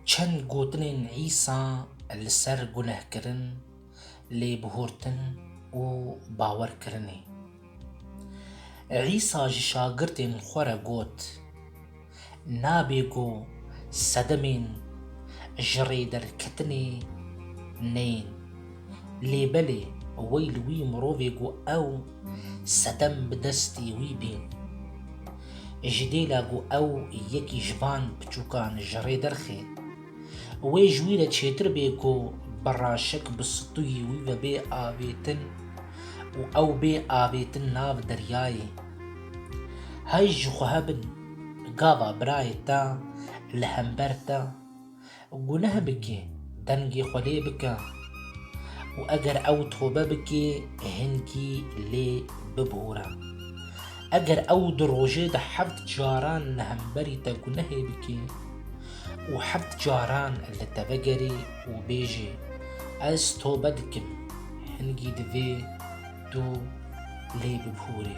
Çend gotinên Îsa li ser gunehkirin, lêbihurtin û bawerkirinê. Îsa ji şagirdên xwe re got, Nabê ku sedemên ji rê derketinê neyên. Lê belê wey li wî mirovê ku ew Setem bi destî wî bîn. Ji dêla ku ew yekî ji van piçûkan ji rê derxê, wê ji wî re çêtir bê ku bi raşik bi stûyî wî ve bê avêtin û ew bê avêtin nav deryayê. Hay ji xwe hebin, gava birayê te li hember te. Guneh bike, dengê xwe lê bike û eger ew tobe bike hingî lê bibore. Eger ew di rojê de heft caran li hemberî te gunehê bike û heft caran li te vegerê û bêje, Ez tobe dikim, hingî divê tu lê bibore.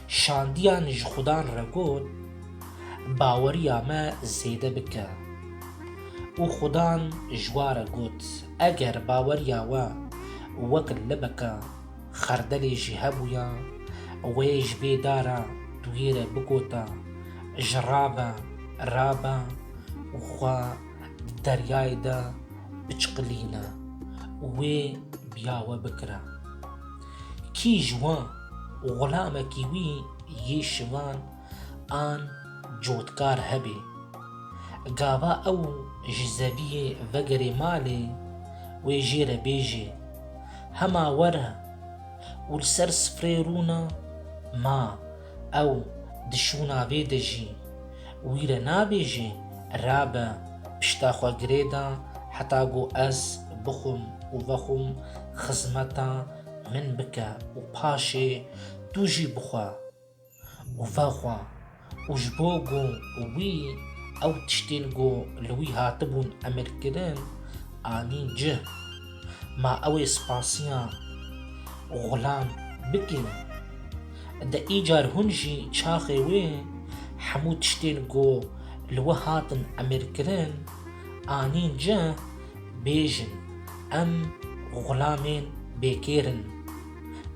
Şandiyan ji xudan re got, Baweriya me zêde bike. Û xudan ji wa re got, Eger baweriya we wek libeka xerdelê jî hebûya, wê ji vê dara duyê re bigota, Ji ra be, ra be û xwe di deryayê de biçiqilîne û wê biyawe bikire. Kî ji wan xulamekî wî yê şivan an cotkar hebê. Gava ew ji zeviyê vegerê malê wê jê re bêjê, Hema were û li ser sifreyê rûna ma. Ew di şûna vê de jî wî re nabêjê, Rabe, pişta xwe girê da heta ku ez bixwim û vexwim xizmeta min bike û paşê tu jî bixwe û vexwe. Û ji bo ku wî ew tiştên ku li wî hatibûn emirkirin anîn cih. Ma ew ê spasiya Xulam bikin. De îcar hûn jî çaxê wê hemû tiştên ku li we hatin emirkirin anîn cih bêjin em xulamên bêkêr in.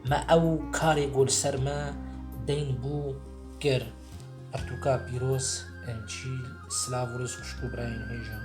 Me ew karê ku li ser me deyn bû kir. Pirtûka pîroz, encîl, silav û rizq xuşk û birayên hêjan.